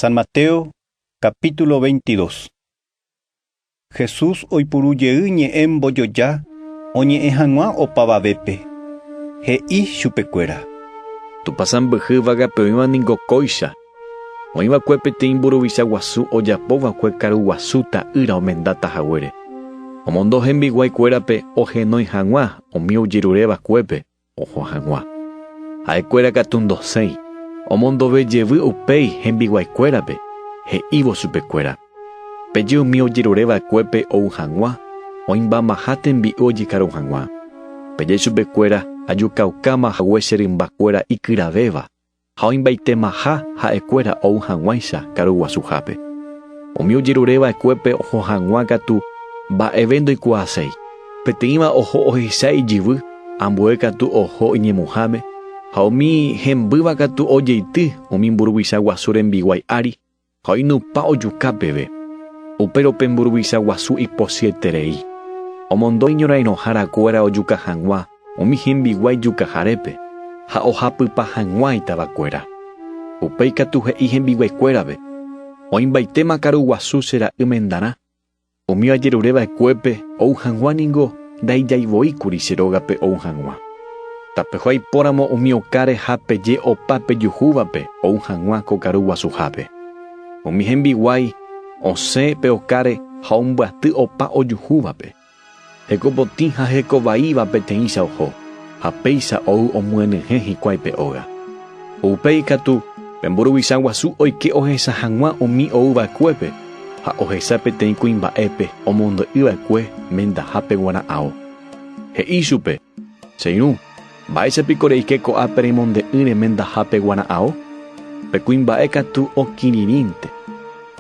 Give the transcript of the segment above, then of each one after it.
San Mateo, capítulo 22. Jesús oipuru jey ñe'ẽ mbojoja oñe'ẽ hag̃ua opavavépe, he'i chupekuéra. Tupã sãmbyhy vaga pe oĩva ningo kóicha. Oĩ va'ekue peteĩ mburuvicha guasu ojapo va'ekue karu guasu ta'ýra omendáta haguére. Omondo hembiguái kuérape ohenói hag̃ua umi ojerure vakuépe. Oho hag̃ua. Ha'ekuéra katu ndosẽi, omondove jevy upéi hembiguaikuérape, he'ívo chupekuéra, Peje umi ojerure vakuépe ou hag̃ua, oĩmbamaha tembi'u ojekaru hag̃ua. Peje chupekuéra ajukaukáma hague che rymba kuéra ikyravéva, Ha oĩmbaitemaha ha'ekuéra ou hag̃uáicha karuguasuhápe. Umi ojerure va'ekuépe oho hag̃ua katu mba'eve ndoikuaaséi. Peteĩva oho ohecha ijyvy, ambue katu oho iñemuháme, ha umi hembýva katu ojeity umi mburuvicha guasu rembiguái ári. Ha oinupã ojuka peve, upérõ pe mburuvicha guasu iposyeterei, omondo iñorãirõhára kuéra ojuka hag̃ua umi hembiguái jukaharépe ha ohapypa hag̃ua itava kuéra. Upéi katu he'i hembiguái kuérape, Oĩmbaite makaru guasu che ra'y mendarã. Umi ajerure va'ekuépe ou hag̃ua ningo ndaijaivoíkuri che rógape ou hag̃ua. Tapeho aipóramo umi oka reha peje opa pejuhúvape ou hag̃ua ko karu guasuhápe. Umi hembiguái osẽ pe okáre ha ombyaty opa ojuhúvape. Hekopotĩ ha hekovaíva peteĩcha oho, ha péicha ou omyenyhẽ hikuái pe óga. Ko upéi katu, pe mburuvicha guasu oike ohecha hag̃ua umi ou vaekuépe, ha ohecha peteĩ kuimba'épe omondo'y vaekue mendahápe guarã ao. He'i ichupe, Che irũ. Mba'éicha piko reike ko'ã pe remonde'ỹ remendahápe guara'ao? Pe kuimba'e katu okirirĩnte.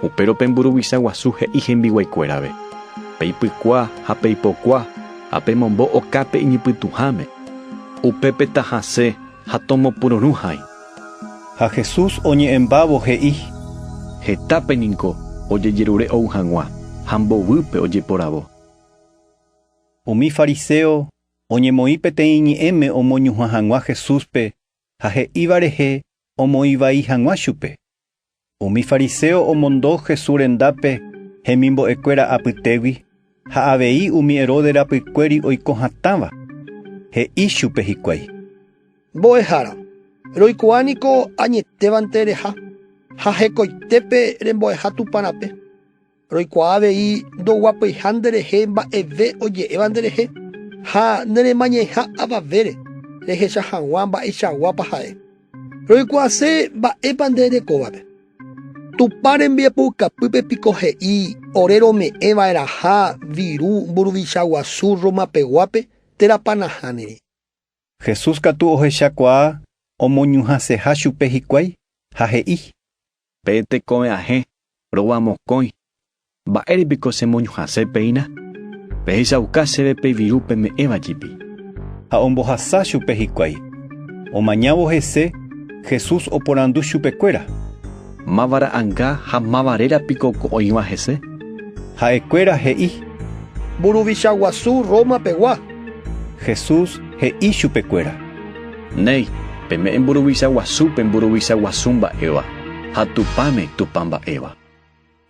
Upérõ pe mburuvicha guasu he'i hembiguaikuérave, 'Peipykua ha peipokua ha pemombo oka pe iñypytũháme. Upépe tahasẽ ha tomopyrũrũ hãi. Ha Jesús oñe'ẽmbávo he'i. Hetápe ningo ojejerure ou hag̃ua ha mbovýpe ojeporavo. Umi fariséo Oñemoĩ peteĩ ñe'ẽme omoñuhã hag̃ua Jesúspe ha he'íva rehe omoĩ vai hag̃ua chupe. Umi fariséo omondo Jesús rendápe hemimbo'ekuéra apytégui ha avei umi Herodes rapykuéri oiko hatãva, he'i chupe hikuái: “Mbo'ehára, roikuaa niko añetévante reha ha hekoitépe rembo'eha Tupã rape. Roikuaa avei ndoguapyha nderehe mba'eve oje'éva nderehe, ha neremañaĩha avavére rehecha hag̃ua mba'eichaguápa ha'e. Roikuaase mba'épa nde erekóvape. Tupã rembiapoukapýpe piko he'i ore rome'ẽ va'erãha viru mburuvicha guasu Roma peguápe térapa nahániri. Jesús katu ohechakuaa omoñuhãseha chupe hikuái ha he'i. Pe tekove ahẽ, rova mokõi, mba'ére piko che moñuhãse péina? Pehechauka chéve pe viru peme'ẽva jepi. Ha ombohasa chupe hikuái. Omañávo hese, Jesús oporandu chupekuéra. Máva ra'anga ha máva réra piko ko oĩva hese? Ha'ekuéra he'i. Mburuvicha guasu Roma pegua. Jesús he'i chupekuéra. Néi, peme'ẽ mburuvicha guasúpe mburuvicha guasu mba'éva, ha Tupãme Tupã mba'éva.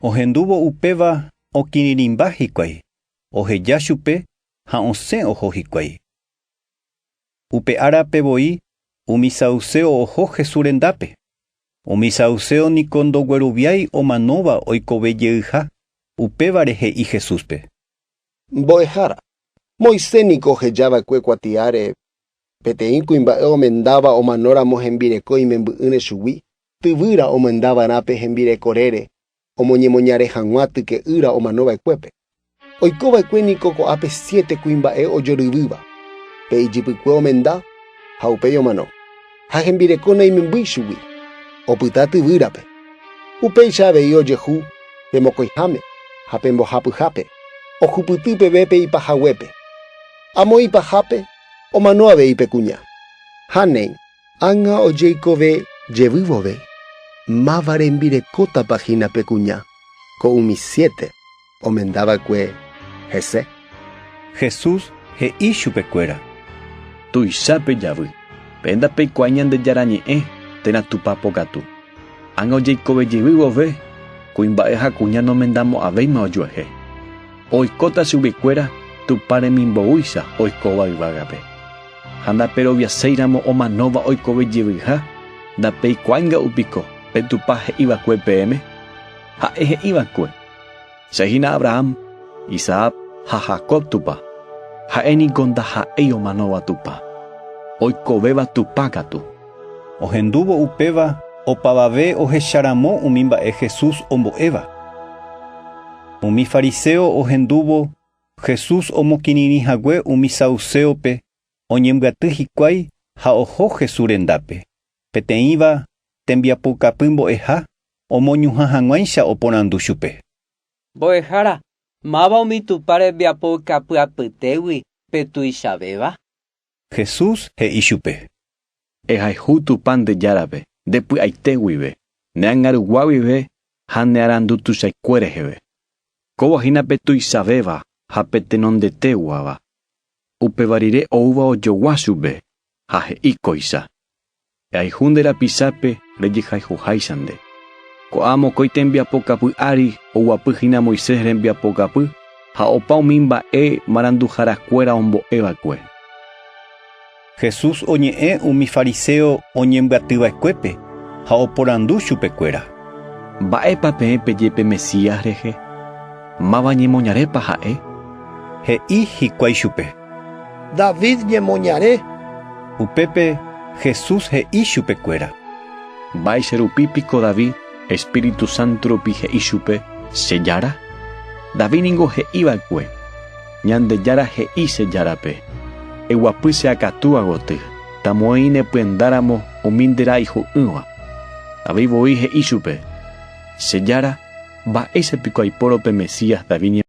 Ohendúvo upéva okirirĩmba hikuái, oheja chupe ha osẽ oho hikuái. Upe árape voi umi saduséo oho Jesús rendápe. Umi saduséo niko ndogueroviái omanóva oikove jeyha, upévare he'i Jesúspe. Mbo'ehára, Moisés niko oheja va'ekue kuatiáre peteĩ kuimba'e omendáva omanóramo hembireko imemby'ỹre chugui, tyvýra omenda va'erã pe hembireko rére, Omoñemoñare hag̃ua tyke'ýra omanova'ekuépe. Oikova'ekue niko ko'ápe siete kuimba'e ojoryrýva, pe ijypykue omenda ha upéi omano, ha hembireko naimemby ichugui. Opyta tyvýrape. Upéicha avei ojehu pe mokõiháme ha pe mbohapyhápe, ohupyty peve pe ipahaguépe. Amo ipahápe omano avei pe kuña. Ha néi. Ág̃a ojeikove jevy vove, máva rembirekótapa hína pe kuña ko umi siete omenda va'ekue hese? Jesús he'i chupe kuéra. Tuicha pejavy. Pe ndapeikuaái Ñandejára ñe'ẽ, térã Tupã pokatu. Ág̃a ojeikove jevy vove, kuimba'e ha kuña nomendamo'ãvéima ojuehe. Oikóta chugui kuéra Tupã remimboúicha oikóva yvágape. Ha ndaperoviaséiramo omanóva oikove jeyvyha, ndapeikuáinga'u piko pe Tupã he'i va'ekue peẽme? Ha'e he'i va'ekue, Che hína Abraham, Isaac ha Jacob Tupã. Ha'e niko ndaha'éi omanóva Tupã. Oikovéva Tupã katu. Ohendúvo upéva opavave ohecharamo umi mba'e Jesús ombo'éva. Umi fariseo ohendúvo Jesús omokirirĩ hague umi sauséope oñembyaty hikuái ha oho Jesús rendápe. Peteĩva tembiapokapy mbo'eha omoñuhã hag̃uáicha oporandu chupe. Mbo'ehára, máva umi Tupã rembiapo ikapy apytégui pe tuichavéva? Jesús he'i chupe. Ehayhu Tupã nde Járape, nde py'aite guive, ne angarugua guive ha ne arandu tuichaikue reheve. Kóva hína pe tuichavéva ha pe tenondeteguáva. Upéva rire oúva ojogua chupe, ha he'i kóicha. Jayhu nde rapichape rejehayhuháicha nde. Ko'ã mokõi tembiapo kapy ári oguapy hína Moisés rembiapo kapy ha opa umi mba'e maranduhára kuéra ombo'e va'ekue. Jesús oñe'ẽ umi fariséo oñembyaty va'ekuépe ha oporandu chupe kuéra. Mba'épa peẽ peje pe Mesías rehe? Máva ñemoñarépa ha'e? He'i hikuái chupe. David ñemoñare. Upépe Jesús he'i chupekuéra. Mba'éicha rupi piko David espíritu sánto rupi he'i chupe che Jára? David ningo he'i va'ekue, Ñandejára he'i che Járape, Eguapy che akatúva goty, tamo'ãi ne pyendáramo umi nde ra iju'ỹva. David voi he'i chupe, Che Jára, mba'éicha piko aipórõ pe Mesías David ñemoñare?